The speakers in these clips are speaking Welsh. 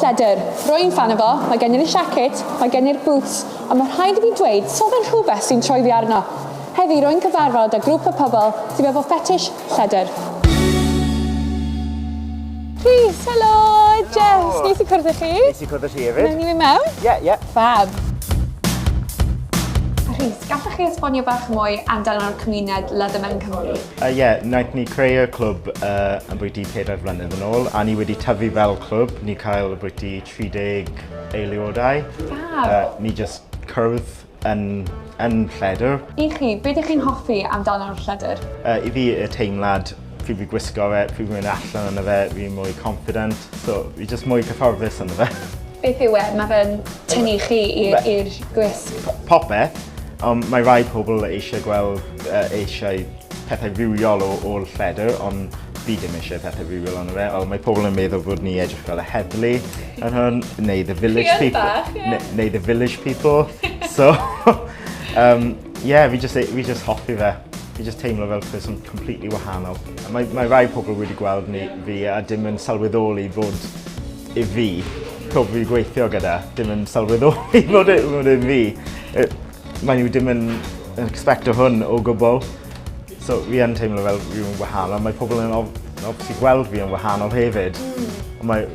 Lledr. Rwy'n ffan o fo, mae gen i'r siacit, mae gen i'r bŵts, ond mae rhaid i fi dweud, so fe'n rhywbeth sy'n troi fi arno. Heddi rwy'n cyfarfod â grŵp o pobl sydd efo ffetish lledr. Rhys, helo! Jess, nes i cwrdd â chi. Nes i cwrdd â ti hefyd. Wnawn ni fynd mewn? Ie, ie. Ffab. Rhys, gallech chi esbonio bach mwy amdano'r cymuned Leathermen Cymru? Yy ie, naeth ni creu y clwb yy ambwyty pedair flynedd yn ôl a ni wedi tyfu fel clwb, ni cael ambwyty tri deg eiliodau. Ffab! Yy ni jyst cwrdd yn yn Lledr. I chi, be dych chi'n hoffi amdano'r Lledr? Yy i fi y teimlad pryd fi'n gwisgo fe, pryd fi'n mynd allan ynddo fe, fi'n mwy confident, so fi jyst mwy cyfforddus ynddo fe. Beth yw e, ma' fe'n tynnu chi i'r i'r gwisg? Popeth, ond mae rai pobl eisiau gweld uh, eisiau pethau rhywiol o ôl lledr, ond fi ddim eisiau pethau rhywiol ond fe. Ond mae pobl yn meddwl bod ni edrych fel y heddlu yn hwn, neu the village people. Bach, yeah. neu, neu the village people. so, um, yeah, fi just, fi just hoffi fe. Fi just teimlo fel peth sy'n completely wahanol. Mae, mae rai pobl wedi gweld ni fi a dim yn sylweddoli fod i fi pobl fi gweithio gyda, dim yn sylweddoli fod e, fod e fi. Maen nhw dim yn expecto hwn o gwbl. So fi yn teimlo fel fi'n wahanol. Mae pobl yn obviously gweld fi yn wahanol hefyd. Mm. Ond mae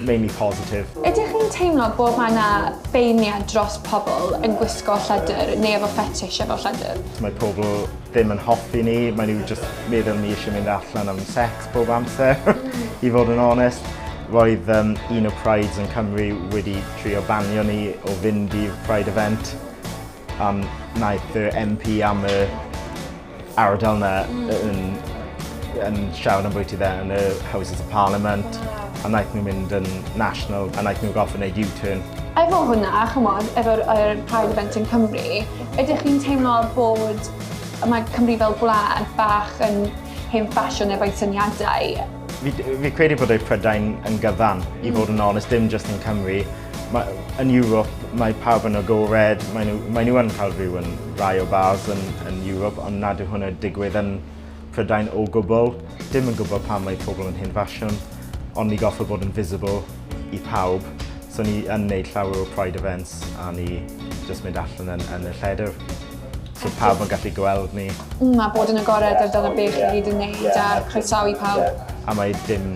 mainly positive. Ydych chi'n teimlo bod mae yna beirniad dros pobl yn gwisgo lledr neu efo fetish efo lledr? Mae pobl ddim yn hoffi ni, mae nhw just meddwl ni eisiau mynd allan am sex bob amser, mm. i fod yn onest. Roedd um, un o Prides yn Cymru wedi Trio banio ni o fynd i'r Pride event ond naeth yr MP am y ardal 'na yn yn siarad ambwyty fe yn y Houses of Parliament a naeth nhw mynd yn national a naeth nhw gorffod neud U-turn. Efo hwnna ch'mod efo'r yr Pride event yn Cymru ydych chi'n teimlo bod mae Cymru fel gwlad bach yn hen ffasiwn efo'i syniadau? Fi, fi credu bod ei Prydain yn gyfan, mm. i fod yn onest, dim just yn Cymru. Ma, yn Ewrop, mae pawb yn agored, mae nhw, mae nhw yn cael rhyw yn rai o bars yn, yn Ewrop, ond nad yw hwnna digwydd yn Prydain o gwbl. Dim yn gwybod pam mae pobl yn hyn ffasiwn, ond ni goffa bod yn visible i pawb. So ni yn neud llawer o Pride events a ni just mynd allan yn, yn y lledr. So pawb yn gallu gweld ni. Mm, a bod yn agored ar dyna beth i gyd yn neud a croesawu pawb. A mae dim,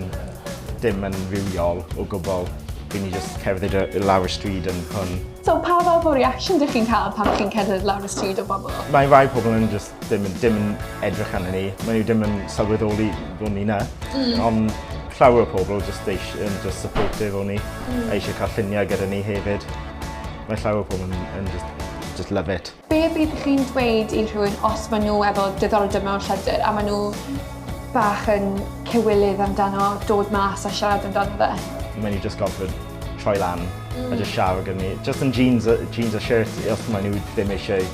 dim yn rhywiol o gwbl. Fi'n ni just cerdded i lawr y stryd yn hwn. So pa fath o reaction dych chi'n cael pan chi'n cerdded lawr y stryd o bobl? Mae rhai pobl yn just dim, dim yn edrych arnyn ni. Mae nhw dim yn sylweddoli bod ni na. Mm. Ond llawer o pobl just, eisiau, just supportive o ni. Mm. A eisiau cael lluniau gyda ni hefyd. Mae llawer o pobl yn, yn just, just love it. Be bydd chi'n dweud i rhywun os maen nhw efo diddordeb mewn llythyr a maen nhw bach yn cywilydd amdano dod mas a siarad amdano fe? Maen nhw just gofod troi lan mm. a just siarad gyda ni. Just yn jeans, jeans a shirt os maen nhw ddim eisiau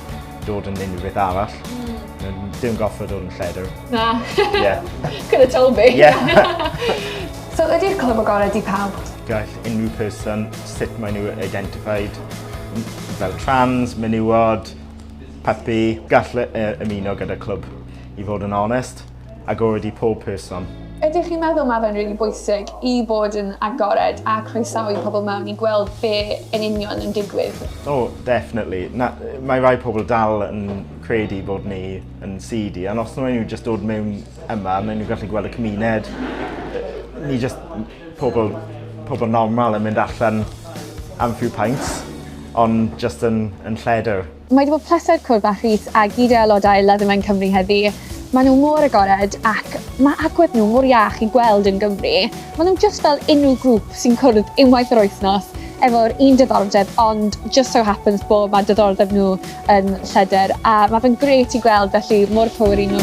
dod yn unrhyw beth arall. Mm. Dim gofod dod yn lledr. Na. yeah. Could have told me. Yeah. so ydy'r clwb o gorau di pawb? Gall. unrhyw person, sut maen nhw identified, fel trans, menywod, puppy, gall e ymuno gyda clwb, i fod yn onest, agored i pob person. Ydych chi'n meddwl mae fe'n rili really bwysig i bod yn agored a croesawu pobl mewn i gweld be yn union yn digwydd? O, oh, definitely. Na, mae rhai pobl dal yn credu bod ni yn seedy, ond os nhw'n nhw jyst dod mewn yma, maen nhw'n gallu gweld y cymuned. Ni jyst Pobl, pobl normal yn mynd allan am few pints ond jyst yn yn lleder. Mae 'di bod pleser cwrdd â Rhys a gyd o aelodau Leatherman Cymru heddi. Mae nhw mor agored ac mae agwedd nhw mor iach i gweld yn Gymru. Mae nhw jyst fel unrhyw grŵp sy'n cwrdd unwaith yr wythnos efo'r un diddordeb ond just so happens bod mae diddordeb nhw yn lleder a mae fe'n grêt i gweld felly mor power i nhw.